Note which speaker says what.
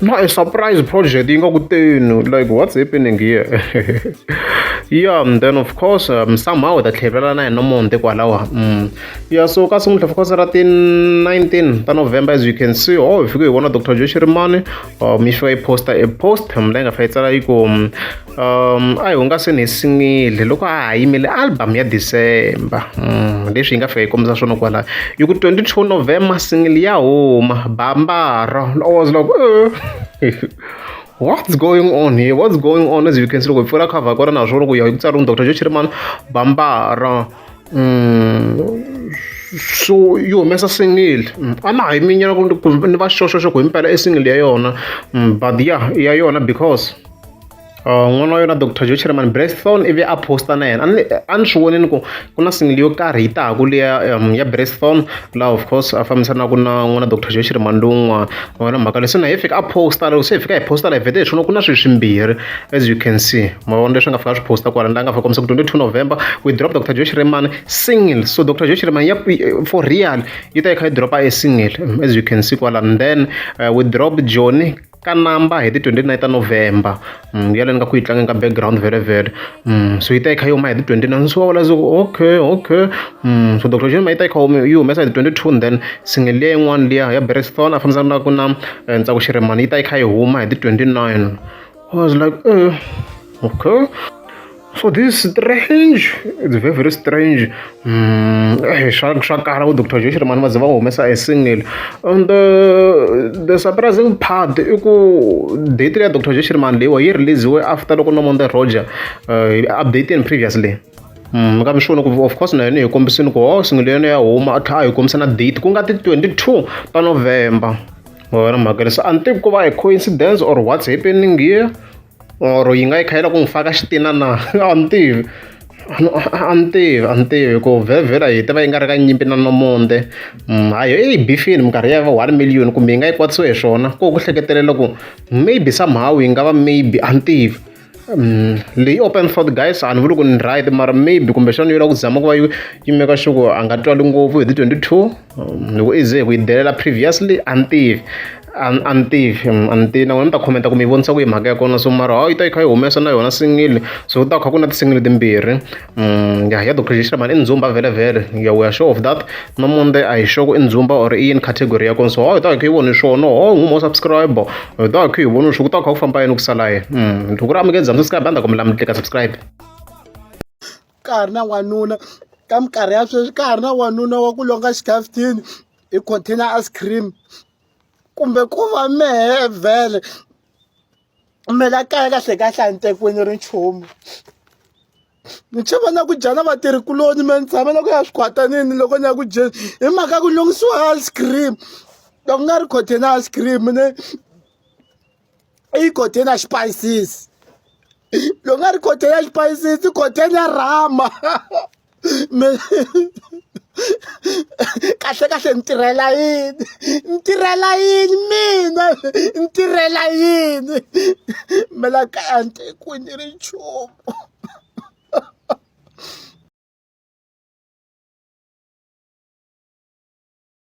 Speaker 1: ma a surprise project yi nga ku tenu like what's happening here yeah and then of course um, somehow ta tlhelela na hina monte kwalawa mm. yeah so ka sungula of course ra ti 19 ta november as you can see oh hi fike hi vona dr joshi rimani um yi fika yi posta a post mla yi nga fa yi tsala yi ku um, um a hi hungaseni hi sinile loko a ha yimile album ya december um leswi yi nga fika yi kombisa swona kwala yi ku 22 november single ya huma bambara i was like eh. what's going on here what's going on as you can see loko hi pfula cover kona naswo loko ya ku tsariwa dr joe chirimani bambara um so yi humesa single mm, a na ha yi minyana ni va xoxoxo ku himpela i single ya yona mm, but ya ya yona because Uh, n'wana wa yona dr joe chairman brethon ivi a posta na yena a ni swi vonini ku ku na single yo karhi yi tahaku leya um, ya brethon laha of course a fambisanaka na n'wana dr joe chairman lowun'wana wona mhaka leswi na hi fika a posta loko se hi fika hi posta la hi vhete hi swona ku na swilo swimbirhi as you can see ma vona leswi nga fika swi posta kwala la nga fika kombisa ku 22 november we drop dr joe chairman single so dr joe chairman ya for real yi ta yi kha yi dropa a single as you can see kwala and then uh, we drop johnny ka namba hi ti 29 ta november mm, ya leni ka ku yi tlangeni ka background vele vele mm, so yi ta yi kha yi huma hi ti 29 ni swi va vula se ku okay okay mm, so dr jema yi ta yi kha humi yi humesa hi ti 22 and then single leya yin'wana liya ya bereston a fambisana na ku na eh, ntsako xiremani yi ta yi kha yi huma hi ti 29 i was like eh okay So this strange, it's very very strange. Mm, eh, swa swa kala uDr Josh Rimani va ze va humesa a single. And the, uh, the surprising part i ku date ya Dr Josh Rimani leyiwa yi releasiwe after loko Nomonde Roger uh, updated previously. Mm, ka mixono ku of course na yona hi kombisini ku ho oh, single yona ya huma a tlha a hi kombisa na date ku nga ti 22 ta November. Wena mhaka leswi a ni tivi ku va hi coincidence or what's happening here. or yi nga yi kha yi la ku n'wi faka xitina na a ni tivi a ni tivi a ni tivi ku vhevhela yi ta va yi nga ri ka nyimpi na nomonde mm, hayi yo yi bifini minkarhi ya va one million kumbe yi nga yi kwatisiwe hi swona ko ku hleketelela ku maybe somehow yi nga va maybe a ni tivi mm, leyi open thought guys a ni vuli ku ni right mara maybe kumbexana yi lava ku zama ku va yi yimeka xuku a nga twali ngopfu hi ti twenty two loko i ze ku yi delela previously a ni tivi a a ni tivi a ni tivi na n'wina mi ta khomenta ku mi yi vonisa ku yi mhaka ya kona so mara hawu yi ta yi kha yi humesa na yona singile so ku ta kha ku na ti-single timbirhi ya ya docoration mani i ndzumba vhelemvhele ya we are sure of that na munde a hi sure ku i ndzumba or i yini category ya kona so hawu yi ta yi kha yi voni swona ho n'wi mo subscribe yi ta yi kha yi voni swo ku ta kha ku famba yini ku sala yini loko ku ri a mi nge za mi subscribe a ni ta kombela mi tlika subscribe
Speaker 2: ka ha ri na n'wanuna ka minkarhi ya sweswi ka ha ri na n'wanuna wa ku longa xikhafuthini hi container ice cream kumbe ku va mehe vhele me la kaya kahle kahle a ni tekiweni ri nchumu ni chava na ku dya na vatirhi kuloni me ni tshame na ku ya swi khwatanini loko ni ya ku dyeni hi mhaka ku lunghisiwa ice cream loko nga ri container ice cream ne i container xipayisisi loko nga ri container xipayisisi container rama me kahle kahle ni tirhela yini ni tirhela yini mina ni tirhela yini me la kaya ni te ku ni ri nchumu